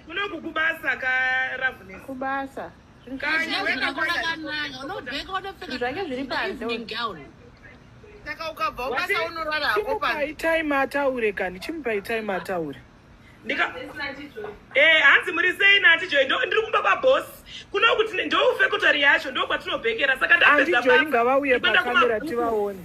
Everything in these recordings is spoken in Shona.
kunoku kubasa ka ravnes kubasa zvake zviri panze saka ukabva ubasa unorara hako pari time ataure kani chimupai time ataure eh, hanzi muri sei nati joi ndiri kumba kwaboss kunokuti ndoufe kotari yacho ndokwatinobekeera saka ndapedza ngavauye pakamera tivaone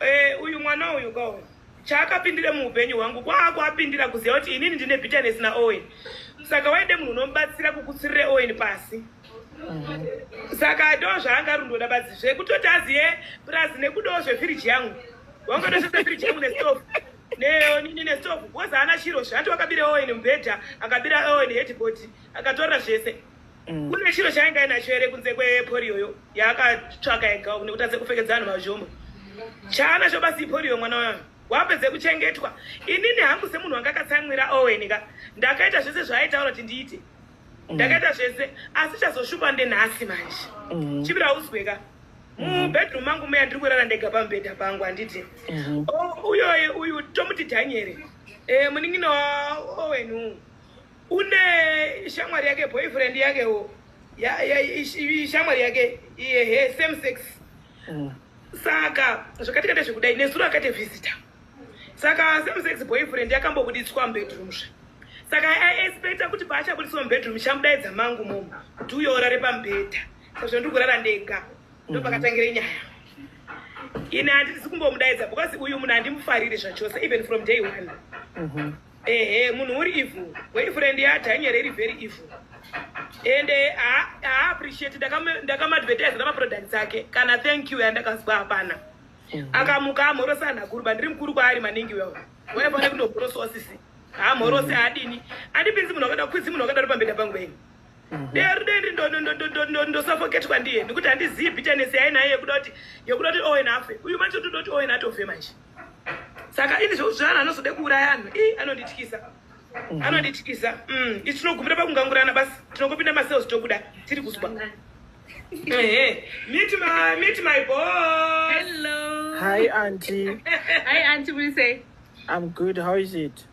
Eh, uyu mwana uyu ka uyu chaakapindire muupenyu hwangu kwaako apindira kuziva kuti inini ndine bitterness naowen saka waide munhu unomubatsira kukutsirire owen pasi saka ndo zvaanga ari ndoda badzi zvekutoti aziye plus nekudawo zvefiriji yangu wangatosvisa firiji yangu nestove neonini nestove bcause haana chiro zve ati wakabira owen mubhedha akabira owen headboard akatora zvese Mm. Kune chiro chaanga inacho here kunze kwepolioyo yaakatsvaka yega uku nekuti atse kupfekedza vanhu mazvombo chaanacho basi ipolio mwana wayo wapedze kuchengetwa inini hangu semunhu wanga akatsamwira owen ka ndakaita zvese zvaaitaura kuti ndiite mm. ndakaita zvese asi chazoshupa ndenhasi manje mm. chibira uzwe ka mubedroom mangu meya ndiri kurara ndega pamubhedha pangu handiti mm-hmm. oh, uyoye uyu tomuti dhanyere eh, munin'ina waowen uu une shamwari yake boyfriend yake wo ya, ya, shamwari yake iye he same sex mm. saka zvakatikata zvekudai nezuro akati visitor saka same sex boyfriend yakambobuditswa mubedroom zve saka aexpecta kuti paachabuditswa mubedroom chamudaidza mangu momo kuti uyo urare pamubhedha sazvo ndiri kurara ndega ndopakatangira mhm. inyaya ini handisi kumbomudaidza because uyu munhu handimufariri zvachose even from day one mm -hmm. ehe munhu uri evil boyfriend yadhanyere iri very evil and haappreciate ndakamadvertise namaproducts ake kana thank you yandakazwa hapana akamuka amhorosa anhu akuru bandiri mukuru kwaari maningi wewo waifanira kundobhorosawo sisi hamhorosi mm. haadini andipinzi munhu akada kwizi munhu akadaro pambeda pangu venyu mhm. deri deri ndosafoketwa ndiye nekuti handizivi bitanesi yainayo yekuda kuti yekuda kuti owen afe uyu manje totoda kuti owen atofe manje saka ini zvekuti zvanhu anozoda kuuraya anhu i anondityisa mhm. anondityisa mm, i tinogumira pakungangurana basi tinongopinda masales tokuda tiri kuzwa meet my meet my boss hello hi auntie hi auntie what do you say i'm good how is it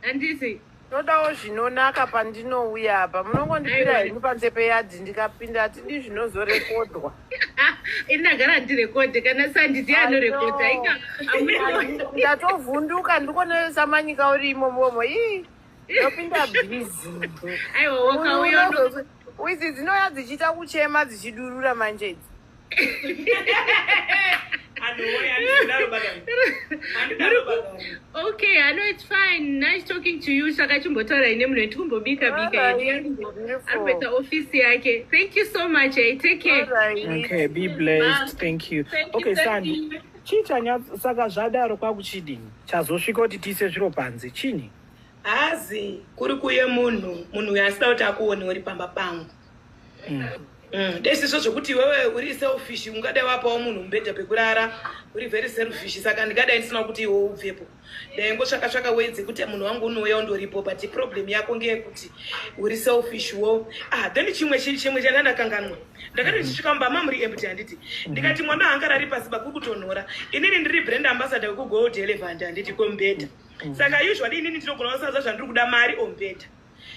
Handisi. Ndodawo zvinonaka pandinouya apa. Munongondipira henyu panze peyadhi ndikapinda hatidi zvinozorekodwa. Ini ndagara ndirekodhe kana sandi ndiye anorekodha. Ndatovhunduka ndiko nesamanyika urimo momo. Ii. Ndopinda busy. Aiwa wakauya. Uidzi dzinoya dzichiita kuchema dzichidurura manje idzi. okay i know it's fine nice talking to you saka chimbotaura ine munhu yetikumbobika bika arikuita ofisi yake thank you so much hey, eh, take care right. okay be blessed thank you thank okay sandi chii chanya saka zvadaro kwakuchidini chazosvika kuti tiise zviro panze chini Hazi kuri kuye munhu munhu uyo asida kuti akuone uri pamba pangu. Mm. Mm. Desizvo zvekuti iwewe uri selfish ungadai wapawo munhu mubhedha pekurara uri very selfish saka ndingadai ndisina kuti iwe ubvepo. Dai ngotsvaka tsvaka way dzekuti munhu wangu unouya undoripo but problem yako ngeyekuti uri selfish wo. Ah then chimwe chiri chimwe chandandakanganwa. Ndakati ndichisvika mumba mamuri empty handiti. Ndikati mwana angarari pasi bakuri kutonhora. Inini ndiri brand ambassador wekuGold Elephant handiti komubhedha. saka usually inini ndinogona kusaza zvandiri kuda mari or mbeta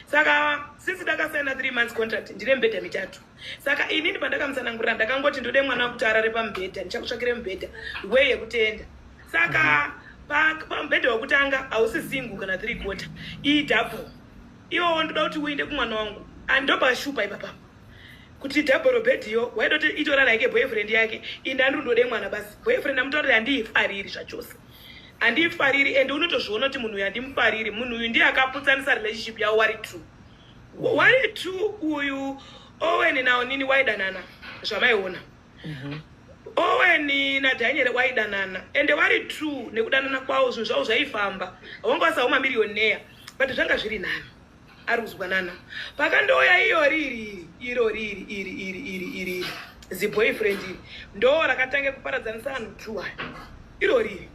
saka since ndakasaina three months contract ndine mbhedha mitatu saka inini pandakamusanangurira ndakangoti ndode mwana wekuti arare pamubhedha ndichakutsvakire mubhedha wee yekutenda saka pamubhedha wekutanga hausi single kana three quarter iyi double iwowo ndoda kuti uinde kumwana wangu andopashupa ipapa kuti double bed iyo waida kuti itorana yake boyfriend yake indandirundode mwana basi boyfriend amutaurire handiifariri zvachose handifariri and unotozviona kuti munhu uyu handimufariri munhu uyu ndiye akaputsanisa relationship yavo wari two wari two uyu owen naonini waidanana zvamaiona mhm. owen nadhanyere waidanana ende wari two nekudanana kwavo zvinhu zvavo zvaifamba haunge wasaoma mirioneya but zvanga zviri nani ari kuzwanana pakandouya iyo riri iro riri iri iri iri iri ziboyfriend iri ndo rakatange kuparadzanisa vanhu two aya iro riri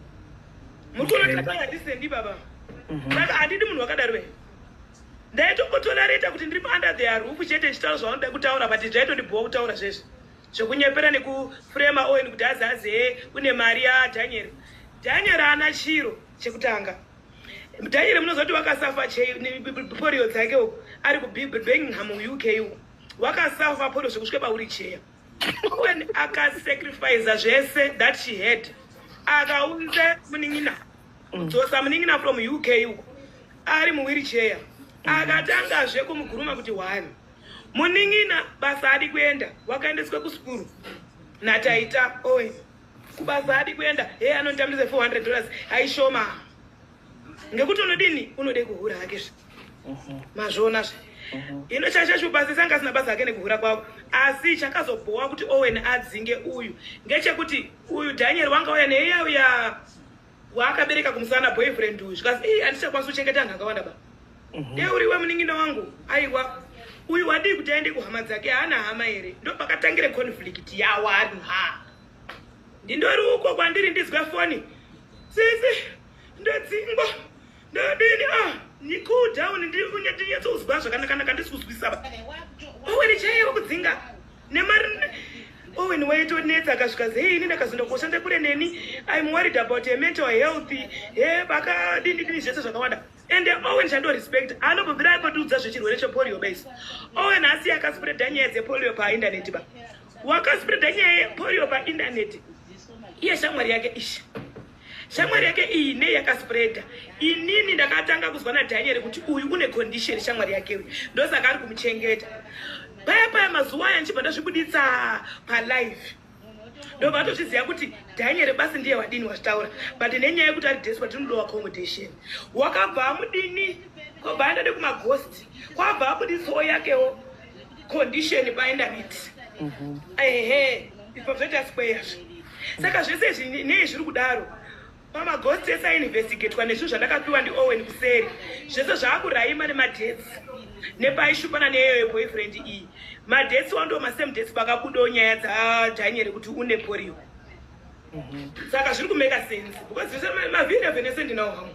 muri kunotakanga ndisendi baba mhm. saka handidi munhu wakadaro ve ndaitongotolareta kuti ndiri under the roof chete chitauro zvavanoda kutaura but zvaitondibhowa kutaura zvese zvekunyepera nekufrema owen kuti azaze une mari yadaniel daniel ana chiro chekutanga Daniel munozoti wakasafa polio dzake uko ari kuBirmingham UK uko wakasafa polio zvekusvika pauri cheya when akasacrifice zvese that she had akaunza munin'ina kudzosa munin'ina from UK uko ari muwiricheya akatangazve kumuguruma kuti one munin'ina basa adi kuenda wakaendeswa kuskuru nataita owen oh, kubasa haadi kuenda hee anonditambidza 400 dollars haishoma ngekuti unodini unode kuhura hake zve mhm. mazviona zve mhm. ino chashashubasa sanga asina basa hake nekuhura kwavo asi chakazobhowa kuti owen adzinge uyu ngechekuti uyu daniel wanga uya neiya uya waakabereka kumusana boyfriend uyu zvikazi ii andichakwanisa kuchengeta anhu akawanda ba mhm. dei uriwe munin'ina wangu aiwa uyu wadii kuti aende kuhama dzake haana hama here ndo pakatangire conflict yawanhu ha ndindori uko kwandiri ndizwe foni sisi ndodzingwa Ndadini ah ni cool down ndiri kunyatso kuzwa zvakanaka naka ndisi kuzwisa ba. Owen chaiye kudzinga nemari Owen waitonetsa akasvika zei ini ndakazonda kushanda kure neni I'm worried about your mental health he pakadini dini zvese zvakawanda ende owen chando respect anobvira akotiudza zvechirwere chepolio base owen asi akaspreada nyaya dzepolio paindaneti ba wakaspreada nyaya yepolio paindaneti iye shamwari yake isha Shamwari yake iyi nei yakaspreader. Inini ndakatanga kuzwa na Daniel kuti uyu une condition shamwari yake uyu. Ndosaka ari kumuchengeta. Paya paya mazuva aya ndichibva ndazvibuditsa pa live. Ndobva atozviziva kuti Daniel basi ndiye wadini wazvitaura but nenyaya yekuti ari desperate tinodowa accommodation. Wakabva amudini? Kwabva andade kuma ghost. Kwabva abuditsawo yakewo. condition by David mhm. ehe ipo zvoita square saka zvese izvi nei zviri kudaro pamaghost ese ainvestigatwa nezvinhu zvandakapiwa ndiowen kuseri zvese zvaakuraima nemadhets nepaishupana neyoyo boyfriend iyi madhets wando masame dets pakabudawo nyaya dzadhanyere kuti une porio mhm. saka zviri kumeka sense because zvese mavhiri avhenese ndinawo hamwe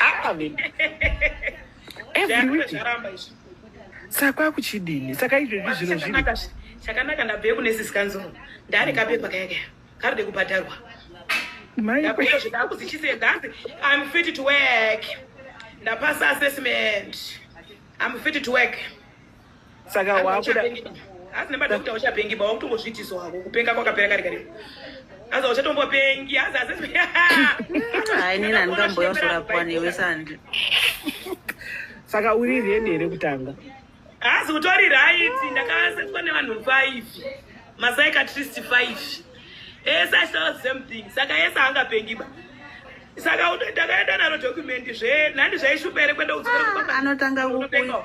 Ah, every week saka kwakuchidini saka izvezvi zvino zviri chakanaka ndabve kune sisikanzuro ndari kapepa kaya kaya karode kubhadharwa ndakuita zvedangu dzichise ndanzi im fit to work ndapasa assessment im fit to work saka wakuda hazi nemadokta uchapengi ba wakutongozvitiso hako kupenga kwakapera kari kari hazi uchatombopengi hazi hazi hayi nini andikamboya kuzorapwa newe sandi saka uri reni here kutanga hazi utori raiti ndakasetwa nevanhu five masai katrist five ese achitaura the same thing saka ese angapengi ba saka ndakaenda naro document zve nhandi zvaishupa here kuenda kudzokera anotanga kupenga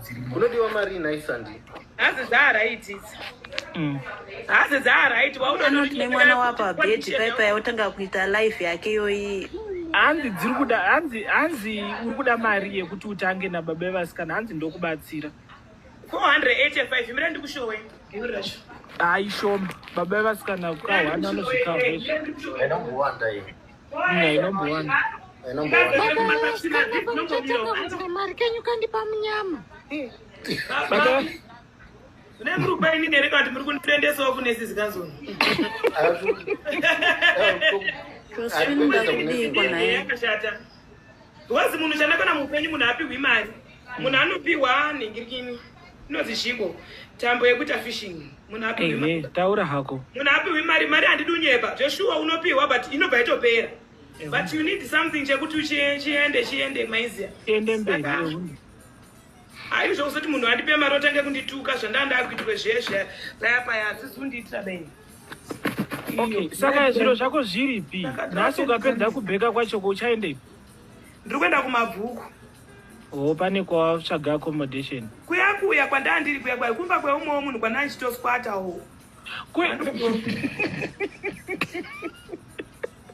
unodiwa mari nhai sandi hazi dzaaraiti idzi mm. hazi dzaaraiti waunoti nemwana wapo abhedhi paipa yautanga kuita life yake iyoyi hanzi dziri kuda hanzi hanzi uri kuda mari yekuti utange nababa evasikana hanzi ndokubatsira 485 mira ndikushowe haishoma baba evasikana kukawana anozvikaoaaiwanda mari kenyu kandipa munyama kune muri kuba ini ndereka kuti muri kundiendesawo kune sizikazoni yakashata Because munhu chandakona mupenyu munhu apihwi mari. Munhu anopihwa nhingirikini. Inozi zhiko. Tambo yekuita fishing. Munhu apihwi mari. Taura hako. Munhu apihwi mari, mari handidi unyeba. Zveshuwa unopihwa but inobva yatopera. But you need something chekuti chiende chiende maizia. Chiende mberi. Hayi zvokuzoti munhu andipe mari otange kundituka zvandaa ndaakuitirwe zviye zviya paya paya hadzisi kundiitira bei. Okay, saka zviro zvako zviripi? Nhasi ukapedza kubheka kwachoko uchaendepi? Ndiri kuenda kumabvuku. Oh, pane kwawatsvaga accommodation. Kuya kuya kwandaa ndiri kuya kuya kumba kweumwewo munhu kwandaa ndichitosquatawo. Kwe...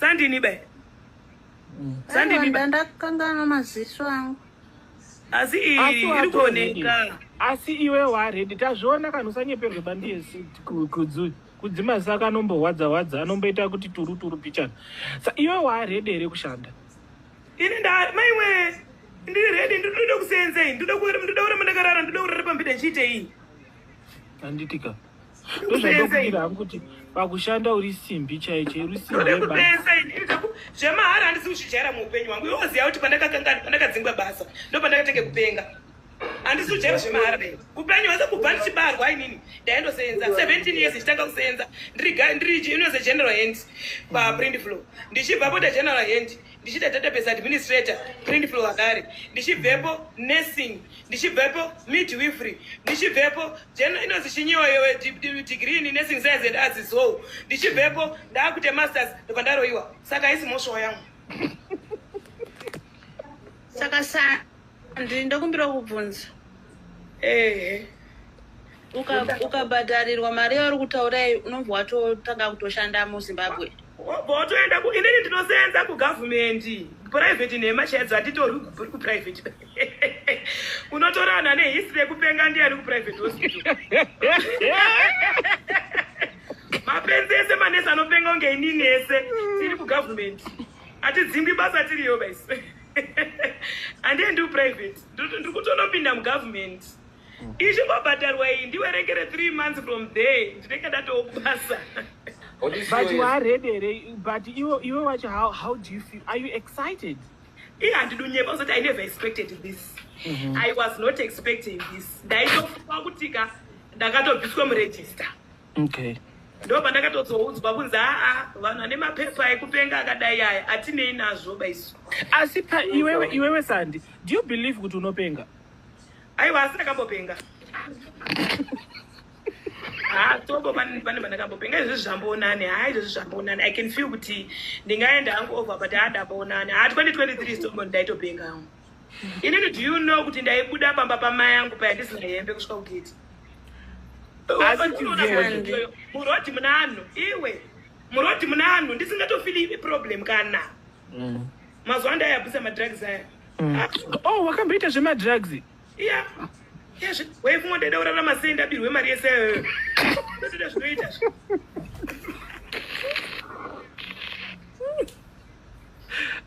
Sandini be. Mm. Sandini be. Ndakangana maziso angu. Asi iri kuoneka. Asi iwe waredi tazviona kana usanyeperwe bandiye kudzuri kudzima saka anombohwadza hwadza anomboita kuti turu turu pichana. Sa iwe waredi here kushanda? Ini nda maiwe ndiri redi ndinoda kuseenza ini ndoda kuenda ndoda kuramba ndakarara ndoda kurara pambida ndichiitei? Handitika. ndozvandokuira hangu kuti pakushanda uri simbi chaicho irusimbezvemahara handisi kuchijaira muupenyu hwangu iwoziva kuti pandakakangani pandakadzingwa basa ndo pandakatenge kupenga handisi kujaira zvemahara dai upenyu hwese kubva ndichibarwa ainini ndaindosenza 17 years ndichitanga kusenza ndiri unose general hand paprint flow ndichibva pota general hand ndichiita database administrator print flow akare ndichibvepo nursing ndichibvepo midwifery ndichibvepo jeno inonzi chinyiwa yowe degree in nursing science and arts so ndichibvepo ndaakuita masters ndobva ndaroyiwa saka haisi mhosva yangu saka sa Ndiri ndokumbira kubvunza. Ehe. Ukabhadharirwa mari yauri kutaura iyi unobva watotanga kutoshanda muZimbabwe. Wobva watoenda ku inini ndinosenza kugovernment. Private nhema chaidzo hatitorwi kubvuri kuprivate. Unotorana nehistory yekupenga ndiyani kuprivate hospital. mapenzi ese manesi anopenga kunge inini ese tiri kugovernment hatidzingwi basa tiriyo baisi handie ndiu private ndiri kutonopinda mugovernment mm. ichingobhadharwa iyi ndiwerengere three months from there ndinenge ndatowo kubasa but you are ready here but iwe iwe wacho how, how do you feel are you excited iye handidunyepa uzoti i never expected this mm -hmm. i was not expecting this ndaitofunga kutika ndakatobviswa muregister okay ndo pandakatozoudzwa kunzi aa vanhu ane mapepa ekupenga akadai aya atinei nazvo baisu asi pa iwewe iwewe sandi do you believe kuti unopenga aiwa asi ndakambopenga ha tobo pane pandakambopenga izvezvi zvamboonani ha izvezvi zvamboonani i can feel kuti ndingaenda hangu over but ha ndamboonani ha 2023 stobo ndaitopenga hangu inini do you know kuti ndaibuda pamba pamai angu paya ndisina hembe kusvika kugeti murodi munanhu iwe murodi munanhu ndisingatofili problem kana mm. mazuva ndayabvisa madrugs aya mm. ah. oh wakamboita zvemadrugs iya waifunga ndaida kurara masei ndabirwe mari yese iyoyo ndotoda zvinoita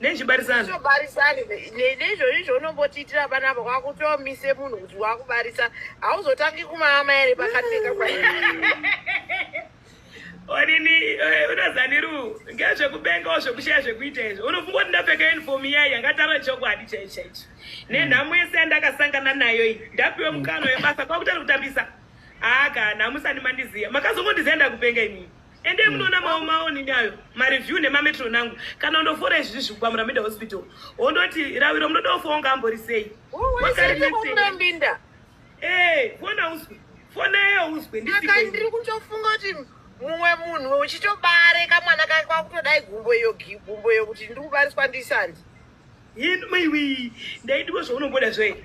nechibarisana zvobarisani neizvozvo izvo unombotiitira panapa kwakutomise munhu kuti wakubarisa hauzotangi kumaama ere pakapfeka kwa onini eh, unozaniru ngezvekubengawo zvekushaya zvekuita izvo unofunga kuti ndapfeka uniform iya iya ngataro chokwadi chai chaicho nenhamo yese yandakasangana nayo iyi ndapiwe mukano webasa kwakutari kutambisa haa kana musani mandiziya makazongondiziya ndakupenga imii ende munoona mawo mawo nini ayo mareview nemametro nangu kana undofora izvi zvi kubva muramida hospital wondoti raviro munoda kufa unga ambori sei wakareemuramida ee eh, fona uzwe fona yeyo uzwe ndisaka ndiri kutofunga kuti mumwe munhu uchitobare kamwana kake kwakutodai gumbo iyo gumbo iyo kuti ndiri kubariswa ndisandi yini maiwi ndaidiwo zvaunomboda zvoe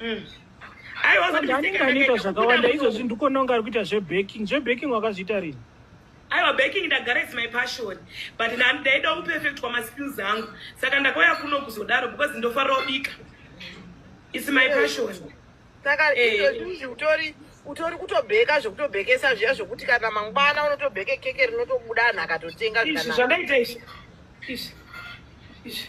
Mm. Anenge anoita zvakawanda izvozvi ndikononga ari kuita zvebaking zvebaking wakazviita rini aiwa baking ndagara is my passion but ndaida uperfect kwamaskills angu saka ndakauya kuno kuzodaro because ndofarira kubika is my passion saka eh. izvozvi utori utori kutobheka zvekutobhekesa zviya zvekuti kana mangwana unotobheke keke rinotobuda anhu akatotenga zvandaita izvi izvi izvi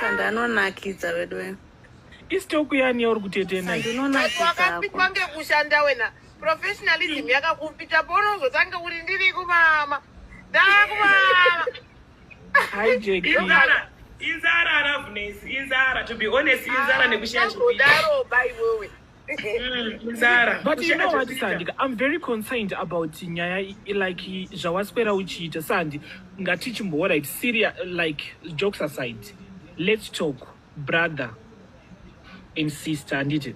Sanda anonakidza vedu wena. Istoku yani yauri kutetena. Sanda unonakidza. Wakapikwa ngekushanda wena. Professionalism yakakupita bono uzotanga kuti ndiri kumama. Ndakumama. Hi Jackie. Inzara, inzara Ravness, inzara to be honest, inzara ah, nekushaya. Ndakudaro bai wewe. mdara but you know what sandi i'm very concerned about nyaya like zvawaswera uchiita sandi ngatichimboora it serious like jokes aside let's talk brother and sister handiti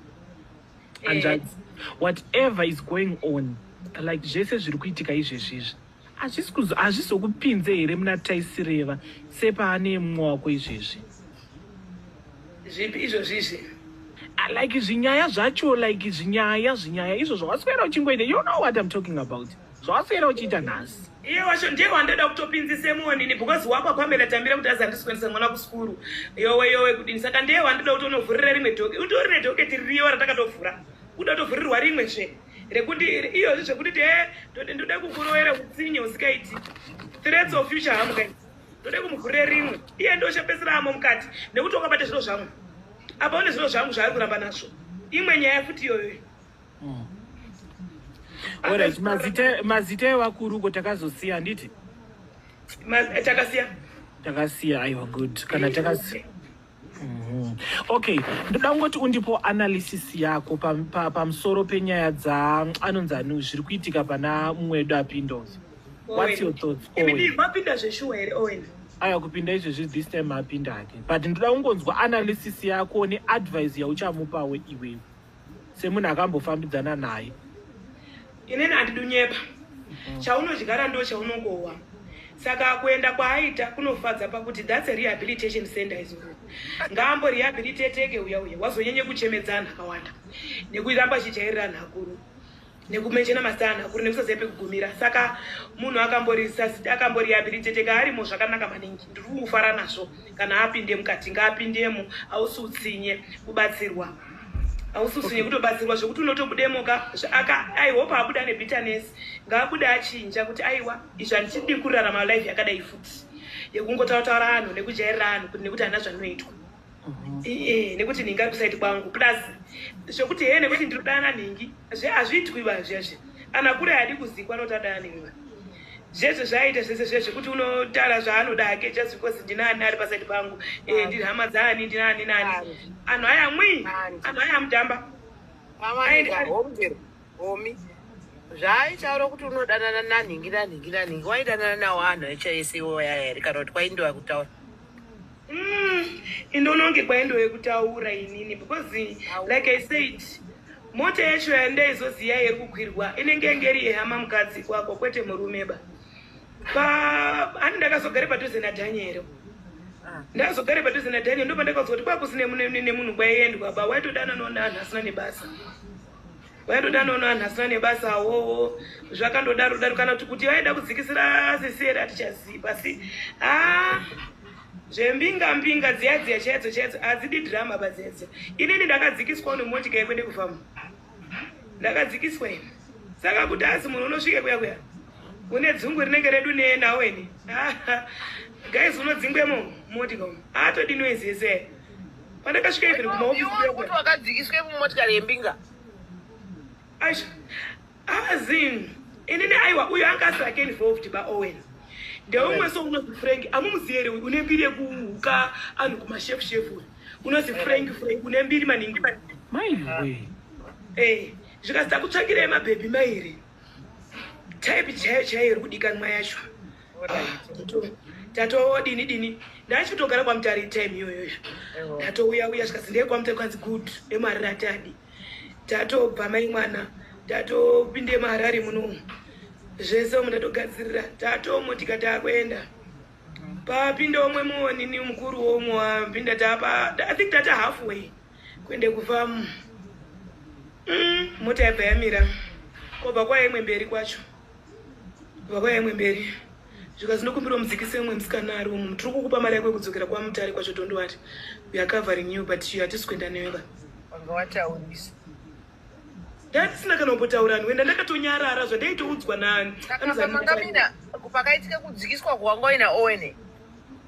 hanzvadzi eh. whatever is going on like zvese zviri kuitika izvezvi izvi hazvizokupinze here muna taisireva sepaane mumwe wako izvezvi zvipi izvozvizvi ah, like zvinyaya zvacho like zvinyaya zvinyaya izvo zvawaswera uchingoita you know what im talking about zvawaswera uchiita nhasi iye wacho ndiye wandoda kutopinzise muonini because wapa pamela tambira kuti azandiswendisa mwana kuskuru yowe yowe kudini saka ndiye wandoda kuti unovhurira rimwe doke utorine doke tiriyo ratakatofura uda kutovhurirwa rimwe zve rekuti iyozvi zvekuti ti eh, e ndoda kukuroera utsinye usikaiti threats of future hamu guys ndoda kumugurire rimwe iye ndoshapesera amo mukati nekuti wakabata zviro zvangu apa une zviro zvangu zvaari kuramba nazvo imwe nyaya futi iyoyo hmm. orit mazita evakuru ko takazosiya handiti eh, takasiya takasiya aiwa good kana takasiya Mm-hmm. Okay, ndoda kungoti undipo analysis yako pamusoro pa, pa penyaya dza anonzi anu zviri kuitika pana mumwe wedu apindos. What's your thoughts? Mapinda zveshuwa here Owen? Aya kupinda izvezvi this time mapinda hake. But ndoda kungonzwa analysis yako neadvice yauchamupawo iwewe. semunhu akambofambidzana naye inini handidunyepa mm. chaunodyara ndo chaunokohwa saka kuenda kwaaita kunofadza pakuti thats a rehabilitation center is all ngaambo rehabilitateke uya uya wazonyanye kuchemedzana akawanda nekuramba chijairira nhakuru nekumenshena masana kuri nekusaziva pekugumira saka munhu akamboriyabilitete kaarimo zvakanaka maningi ndiri kungofara nazvo kana apinde mukati ngaapindemo ausi utsinye kubatsirwa ausi utsinye kutobatsirwa zvekuti unotobudemoka aihope abuda nebitterness ngaabude achinja kuti aiwa izvi handichidi kurarama life yakadai futi yekungotaura taura anhu nekujairira anhu kuti nekuti hana zvanoitwa iye nekuti nhingi ari kusaiti kwangu plus zvekuti hee nekuti ndiri kudana nhingi zve hazviitwi va zvezve ana kure haadi kuzikwa anoti adana nhingi va zvezve zvaaita zvese zve zvekuti unotaura zvaanoda hake just because ndinaani ari pasaiti pangu eh, ndiri hama dzaani ndinaani nani anhu aya mwii anhu aya mutamba omi zvaaitaura kuti unodanana nanhingi nanhingi nanhingi waidanana nawo anhu acho ese iwo yaya here kana kuti kwaindiwa kutaura Mm, indononge kwaindove kutaura inini because like i said mota yacho yandaizoziva yeri kukwirwa inenge yange iri yehama mukadzi kwako kwete murume ba ani ndakazogare padhuze nadhanyero ah. ndakazogare padhuze nadhanyero ndopandakazokuti kwakusine nemunhu kwaiendwa ba waitodananonanhu asina nebasa vaitoda nono vanhu asina nebasa awowo zvakandodaro daro kana kuti kuti vaida kudzikisira sisere hatichazivi asi haa zvembinga mbinga dziya dziya chaidzo chaidzo hadzidi drama badziyadziya inini ndakadzikiswa nemotika yekwende kufamba ndakadzikiswa ini saka kuti hazi munhu unosvike kuya kuya une dzungu rinenge redu nenawo ini guys unodzingwemo motika umu haatodi noise yese pandakasvika even kumaofisikuti wakadzikiswe mumotikari yembinga aisha azin inini aiwa uyo anga asiri ake involved baowen ndeumwe so unozi frank amumuziere uyu une mbiri yekuhuka anhu kumashefu shefu uyu unozi frank frank une mbiri maningi maiwe eh, zvikazita kutsvakirei mabhebhi mairi type chaiyo chaiyo iri kudikanwa yacho tatoo dini dini ndachitogara kwamutari time iyoyoyo ndatouya uya zvikazi ndee kwamutari kwanzi good emari ratadi tatobva mai mwana tatopinde maharari munomu zvese omu ndatogadzirira tatomo tikataa kuenda papinda omwe muonini mukuru womwe wapinda tapa i think tata halfway Kuende kufamu. Mm, mota yabva yamira. Kwabva kwaya imwe mberi kwacho. Kwabva kwaya imwe mberi. Zvikazi ndokumbira mudzikise umwe musikana ari umu. Tiri kukupa mari yako yekudzokera kwa mutare kwacho don't worry. We are covering you but you hatisi kuenda newe ba. Wanga wataurisa. Ndandisina kana kumbotaura nwe ndandakatonyarara zvandaitoudzwa nani. Saka pamanga mina pakaitika kudzikiswa kwanga ina Owen.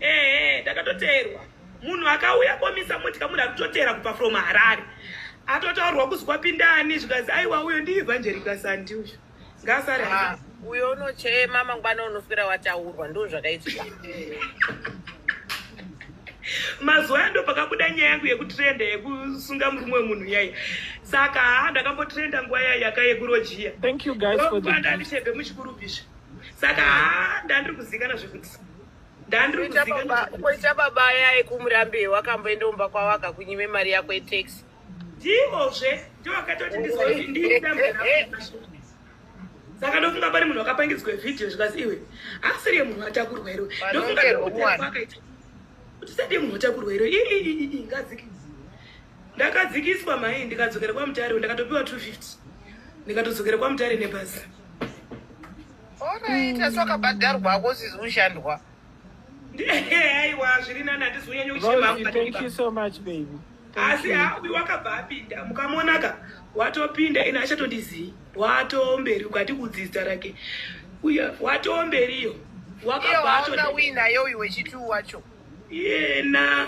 Ehe ndakatoteerwa. Munhu akauya komisa motya munhu akutoteera kubva from Harare. Atotaurwa kuzi kwapinda ani zvikazi aiwa uyo ndi Evangelical Sandi uyo. Ngasare. Ah, uyo unochema mangwana unoswera wataurwa ndo zvakaitika. mazuva ando pakabuda nyaya yangu yekutrenda yekusunga murume wemunhu yaya saka haa ndakambotrenda nguva yaya yaka yekurojiya andandishebhe muchikurubhisha saka haa ndandiri kuzikana zvekuti koita baba yaye kumurambe wakamboenda umba kwavo akakunyime mari yako yetaxi ndivozve ndovakatoti saka ndofunga pane munhu wakapangidzwa vhidhiyo zvikazi iwe asiri yemunhu atakurwa iro ndofunga akaita kuti sadei munhu atakurwa iro ii ngadziki ndakadzikiswa mai ndikadzokera kwamutare ndakatopiwa 250 ndikatodzokera kwamutare nebhazi Unoita sokabhadharwa ako usizi kushandwa. Aiwa zviri nani handizi kunyanya kuchema. Thank you so much baby. Asi hawi wakabva apinda mukamonaka watopinda ina achatondizii watomberi ukati kudzidza rake uya watomberiyo wakabvaawinayo uyu wechituu wacho yena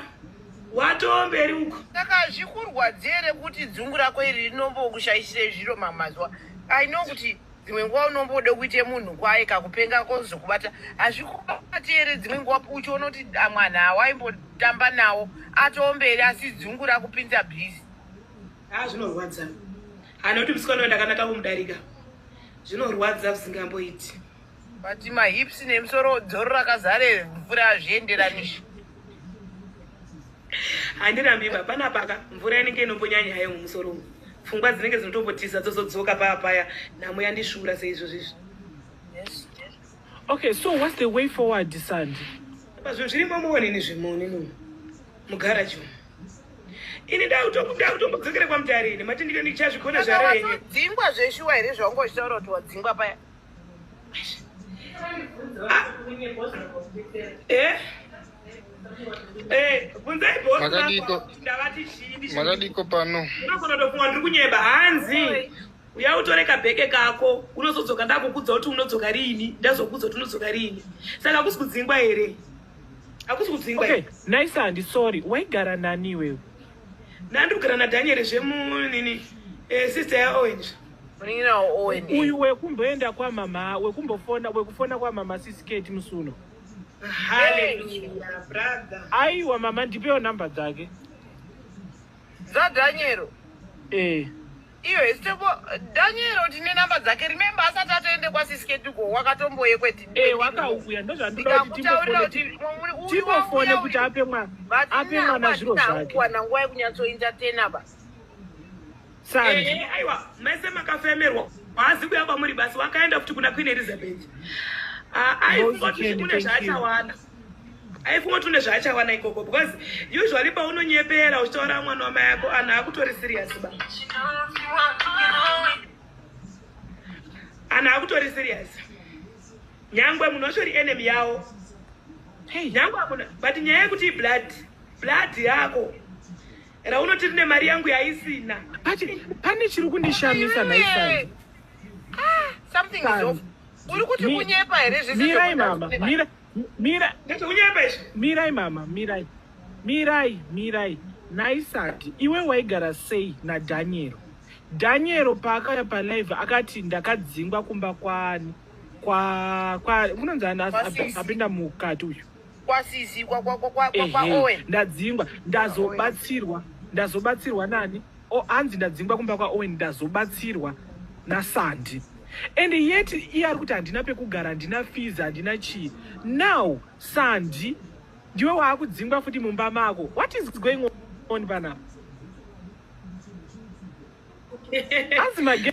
watomberi uko saka zvikurwadzere kuti dzungu rako iri rinombokushaishire zviro mamazuva i know kuti dzimwe nguva unombode kuite munhu kwaye kakupenga kozokubata hazvikubati here dzimwe nguva uchiona kuti amwana ah, awaimbotamba nawo atoomberi asi dzungu rakupinza bhizi a ah, zvinorwadza anoti musikana ndakanaka kumudarika zvinorwadza zvisingamboiti but mahips nemusoro dzoro rakazare mvura hazvienderanishi handirambi iba pana paka mvura inenge inombonyanya hayo mumusoro umu pfungwa dzinenge dzinotombotiza dzozodzoka paya paya nhamo yandishura seizvozvo izvi okay so whats the way forward sandi pazvinhu zviri momuonini zvimoni mu mugaraji umu ini ndakutombodzokera kwamutarini mati ndichazvigona zvarenyedzingwa zveshuwa here zvaungochitaura kuti wadzingwa paya Eh? Eh, bvunzai boss Makadiko. vako kuti ndavati chii ndizvo makadiko pano unogona kutofunga ndiri kunyeba hanzi uya utore kabheke kako unozodzoka ndakukudza kuti unodzoka riini ndazokudza kuti unodzoka riini saka hakusi kudzingwa here hakusi kudzingwa okay here nice handi sorry waigara nani iwewe nandiri kugara nadhanieri zvemunini eh, sister yaowenja uyu wekumboenda kwamama wekumbofona wekufona kwamama sisiketi musuno aiwa mama ndipewo number dzake dzadhanyero eh iyo hesitepo daniero tine namba dzake remembe asati atoende kwasisiketuko wakatomboye kwetiwakauya eh, ndozvandikutaurira kuti timofone kuti ape mwana zviro zvake wana nguva yekunyatsointatena ba Sandi. Eh, eh, aiwa mese makafemerwa haazi kuya kwamuri basi wakaenda kuti kuna queen elizabeth ah, aifungoti une zvaachawana aifungoti une zvaachawana ikoko because usually paunonyepera uchitaura mwana wama yako anhu akutori serious ba anhu akutori serious nyangwe munhu wacho ri enemy yawo nyangwe akuna but nyaya yekuti iblood blood yako hey. Raunoti rine mari yangu yaisina. Pati pane chiri kundishamisa maisanzi. Ah, something is off. Uri kuti kunyepa here zvese? Mirai mama, mira mira. Ndati unyepa izvi. Mirai mama, mirai. Mirai, mirai. Naisati iwe waigara sei na Daniel? Daniel paakaya pa live akati ndakadzingwa kumba kwani? Kwa kwa unonzi apinda mukati uyu. kwasizi kwaowen ndadzingwa ndazobatsirwa ndazobatsirwa nani hanzi ndadzingwa kumba kwaowen ndazobatsirwa nasandi and yet iye ari kuti handina pekugara handina fees handina chii now sandi ndiwe waakudzingwa futi mumba mako what is going on panapa hanzi mage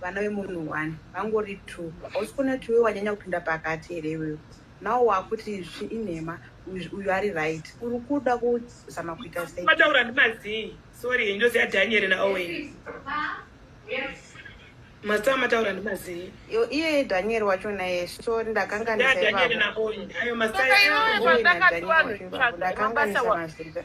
vana vemunhu one vangori two hausi kuona kuti iwe wanyanya kupinda pakati here iwewe now wakuti izvi inhema uyu ari right uri kuda kuzama kuita sei mataura ndimazii sorry njozi yadhanyeri naowen mazita mataura ndimazii iye dhanyeri wacho naye so ndakanganisaaayo mazita ndakakanganisa mazita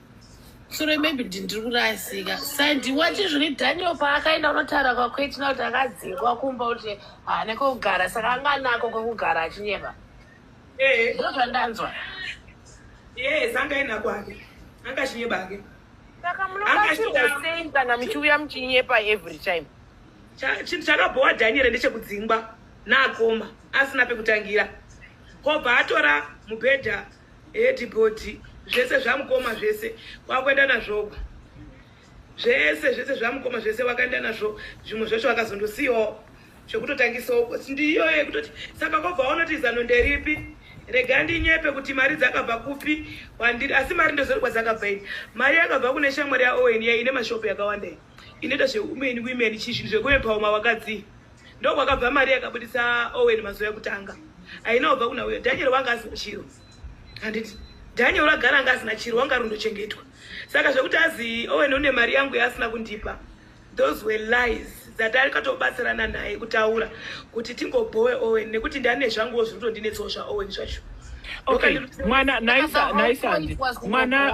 sure maybe kuti ndiri kurasika sandiwati zviri daniel paakaenda unotaura kwakwetina kuti akadzingwa kumba kuti haane kwekugara saka anga anako kwekugara achinyeba eh. ndo zvandanzwa yes anga aina kwake anga achinyeba ake saka munobatsirwa sei kana muchiuya muchinyepa every time chinhu chakabhowa daniel ndechekudzingwa naakoma asina pekutangira kobva atora mubhedha Eti goti zvese zvamukoma zvese kwakuenda nazvoku zvese zvese zvamukoma zvese wakaenda nazvo zvimwe zvacho wakazondosiyawo zvekutotangisawo ndiyo yekutoti saka kobva waonoti zano nderipi rega ndinyepe kuti mari dzakabva kupi wandiri asi mari ndozori kwadzakabva ini mari yakabva kune shamwari yaowen yaine mashopu yakawanda inoita zveumen women chii zvinhu zvekuepawo mawakadzii ndokwakabva mari yakabudisa owen mazuva ekutanga aina kubva kuna uyo daniel wanga asina chiro handiti daniel ragara anga asina chiro wanga rundochengetwa saka zvekuti azi owen une mari yangu yaasina kundipa those were lies dzatarikatobatsirana naye kutaura kuti tingobhowe owen nekuti ndane zvanguwo zviri kutondinetsawo zvaowen zvacho okay mwana naisa naisa mwana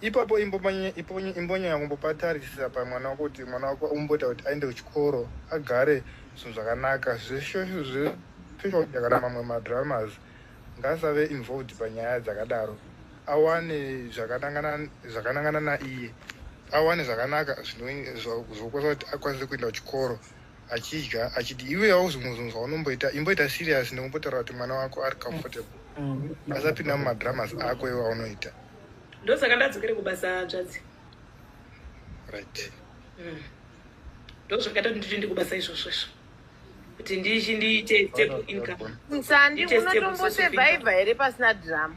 ipapo imbonya yakumbopatarisisa pamwana wako kuti mwana wako umboita kuti aende kuchikoro agare zvinhu zvakanaka zveshoshakana mamwe madramas ngaasave involved panyaya dzakadaro awane zvakanangana naiye awane zvakanaka zvinokwasa kuti akwanise kuenda kuchikoro achidya achiti iwe hauzi muzunzi waunomboita imboita serious nekumbotaura kuti mwana wako ari comfortable mm. asapinda mumadramas ako iwe aunoita ndosaka ndadzokere kubasa dzvadzi right mm. ndozvakaita kuti nditoende kubasa izvozvo izvo kuti ndichi ndiite stable income nsandi unotombosurviva here pasina drama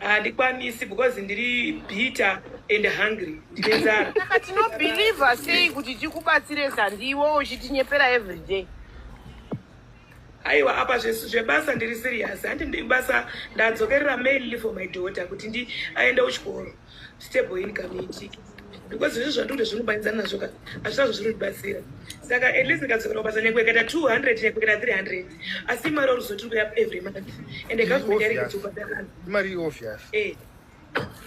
handikwanisi because ndiri bitter and hungry ndine nzara saka tinobhilivha sei kuti tikubatsire zandi iwo uchitinyepera everyday aiwa apa zvesu zvebasa ndiri serious handi ndibasa ndadzokerera mail for my daughter kuti ndi aende kuchikoro Stable income iitike because izvi zvandikuti zvinobanidzana nazvo ka hazvina zvazvinotibatsira saka at least ndikadzokera kubasa nyange ikaita 200 nyange ikaita 300 asi imari oruzo tiri kuya every month and government yari kudzobhadhara imari obvious eh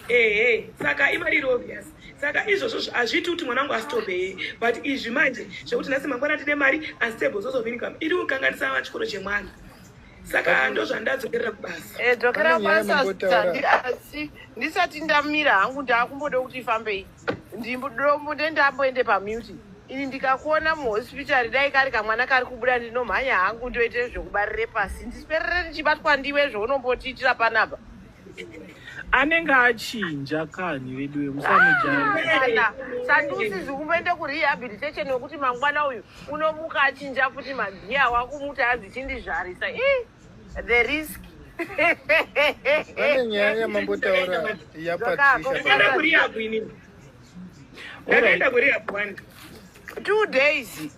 ehe eh, saka imari iri obvious saka izvozvo hazviiti kuti mwana wangu asitobe hee but izvi manje zvekuti nhasi mangwana tine mari unstable source of income iri kukanganisa vachikoro chemwana saka ndozvandadzokera kubasa Eh, dzokera Pane nyaya kubasa mambotaura. Sandi, asi ndisati ndamira hangu ndaakumboda kuti ifambei ndimbodombote ndamboende pamuti ini ndikakuona muhospitari dai kari kamwana kari kubuda ndinomhanya hangu ndoite zvekubarire pasi ndisiperere ndichibatwa ndiwe zveunombotiitira panapa anenge achinja kani vedu vemusamujaa sandiusizi kumboenda kurehabilitation wekuti mangwana uyu unomuka achinja futi magiya wakumuti hanzi chindizvarisa i the risk pane nyaya yamambotaura yapatishaenda kurihabu ini ndakaenda kurihabu one two days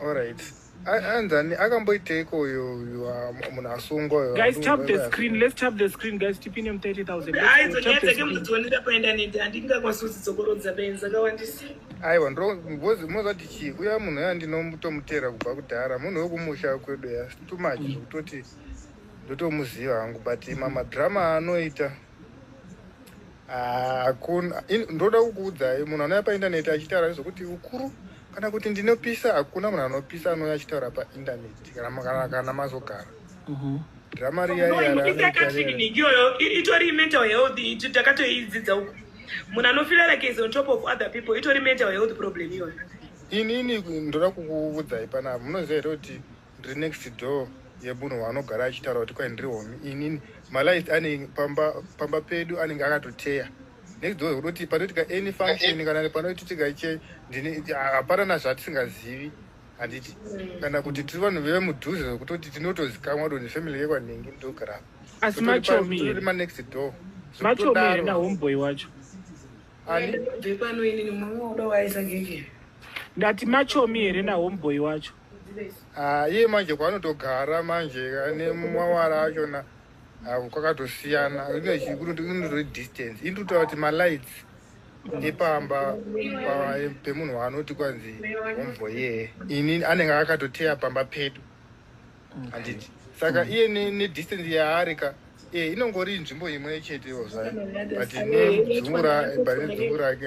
Alright. Anzani akamboiteiko uyo munhu asungwa uyo. Guys tap the screen. Let's tap the screen guys. Tipine mu 30000. Guys zonyetsa ke mudzione ndapaenda nende handingakwanisi kuzidzokorodza benzi zakawandisa. Aiwa ndro ngozi mozati chi uya munhu ya ndinomutomutera kubva kudhara munhu wekumusha kwedu ya too much zvekutoti ndotomuziva hangu but mama drama anoita hakuna ah, uh, ndoda kukuudzai munhu anouya paindaneti achitaura nezvekuti ukuru kana kuti ndinopisa hakuna munhu anopisa anouya achitaura paindaneti kana mazogara mhm. drama riyaiyoyo itori mental health takatoidzidza uku munhu anofila like is on top of other people itori mental health problem iyoyo inini ndoda kukuudzai panapa munoziva here kuti ndiri next door yemunhu waanogara achitaura kuti kwai ndiri homi inini malight anenge pamba, pamba pedu anenge akatoteya next door unoti panoitika any function kana panoititika che hapana nazvatisingazivi handiti mm. kana kuti tiri vanhu veve mudhuze zvekutoti tinotozikamwa do nefamily yekwanhingi ndogara asi machomiri manext door machomiri nahomeboy wacho ndati machomi here nahomeboy wacho Ah, iye manje kwaanotogara manje ane mawara achona ah, kwakatosiyana inotore distance ini totaura kuti malights epamba pemunhu waanoti kwanzi hombo yee ini anenge akatoteya pamba pedu handiti saka iye nedistance yaari ka ee eh, inongori nzvimbo imwe chetewo zvayo but nedzungu rake